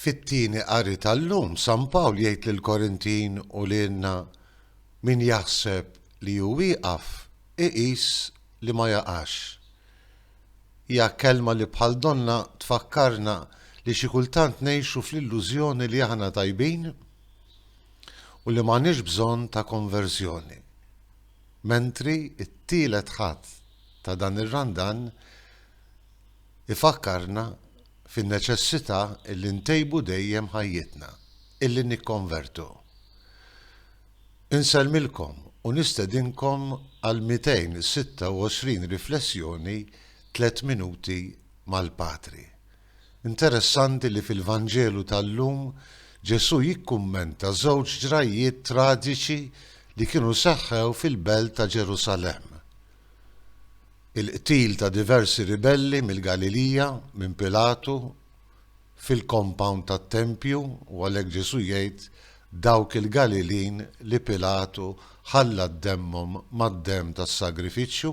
Fit-tieni qari tal-lum, San Pawl jgħid lill-Korintin u lilna, Min jaħseb li hu wieqaf, iqis li ma jaqax. Hija kelma li bħal donnha tfakkarna li xi kultant ngħixu fl-illużjoni li aħna tajbin u li m'għandniex bżonn ta' konverżjoni. Mentri t-tielet Ħadd ta' dan ir-Randan, ifakkarna fin-neċessità illi ntejbu dejjem ħajjitna, illi nikkonvertu. Insellmilkom u nistedinkom għal 226 riflessjoni tliet minuti mal-Patri. Interessanti li fil-Vanġelu tal-lum Ġesù jikkummenta żewġ ġrajjiet traġiċi li kienu seħħew fil-belt ta' Ġerusalemm. Il-qtil ta' diversi ribelli mill-Galilija minn Pilatu fil-compound tat-tempju u għalhekk Ġesù jgħid dawk il-Galilin li Pilatu ħalla d-demmhom mad-demm tas-sagrifiċċju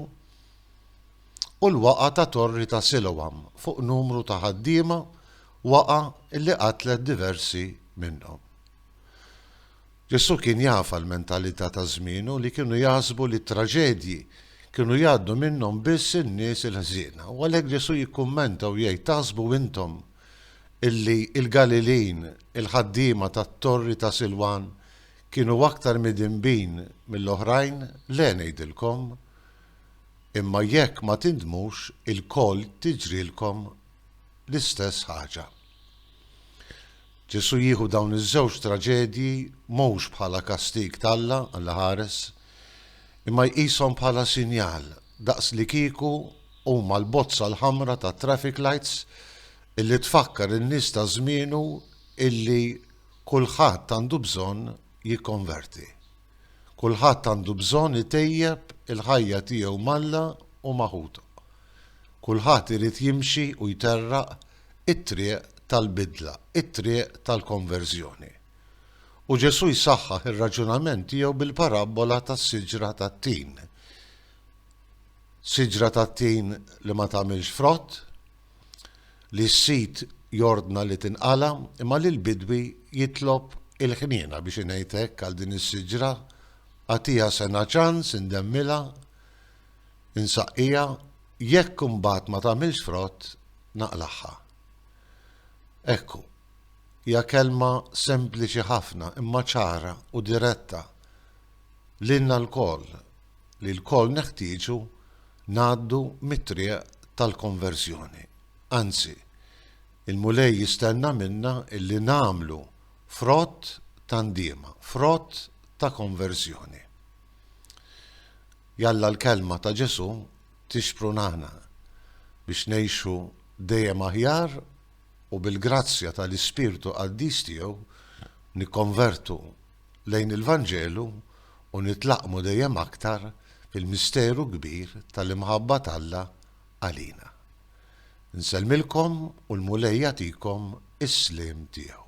u l-waqgħa ta' torri ta' Siloam fuq numru ta' ħaddiema waqgħa li qatlet diversi minnhom. Ġesù kien jaf għall-mentalità ta' żmienu li kienu jaħsbu li t-traġedji kienu jgħaddu minnhom biss in-nies il-ħżiena. U għalhekk Ġesù jikkummenta u jgħid, Taħsbu intom illi l-Galilin, il-ħaddiema tat-torri ta' Silwan, kienu aktar midinbin mill-oħrajn? Le, ngħidilkom. Imma jekk ma tindmux, ilkoll tiġrilkom l-istess ħaġa. Ġesù jieħu dawn iż-żewġ traġedji mhux bħala kastig t'Alla għall-ħares, imma jqishom bħala sinjal, daqslikieku huma l-bozza l-ħamra tat-traffic lights illi tfakkar in-nies ta' żmienu illi kulħadd għandu bżonn jikkonverti. Kulħadd għandu bżonn itejjeb il-ħajja tiegħu m'Alla u ma' ħutu. Kulħadd irid jimxi u jterraq it-triq tal-bidla, it-triq tal-konverżjoni. U Ġesù jsaħħaħ ir-raġunament tiegħu bil-parabbola tas-siġra tat-tin. Siġra tat-tin li ma tagħmilx frott, li s-sid jordna li tinqala' imma li l-bidwi jitlob il-ħniena biex ingħid hekk għal din is-siġra, agħtiha sena ċans indemmilha, Insaqqija, jekk imbagħad ma tagħmilx frott, naqlagħha. Ekku, hija kelma sempliċi ħafna imma ċara u diretta lilna lkoll li lkoll neħtieġu ngħaddu mit-triq tal-konverżjoni. Anzi, il-Mulej jistenna minna illi nagħmlu frott ta' ndiema, frott ta' konverżjoni. Jalla l-kelma ta' Ġesù tixprunana biex ngħixu dejjem aħjar u bil-grazzja tal-Ispirtu Qaddis tiegħu nikkonvertu lejn il-Vanġelu u nitlaqqmu dejjem aktar fil-misteru kbir tal-imħabba t'Alla għalina. Insellmilkom u l-Mulej jagħtikom is-sliem tiegħu.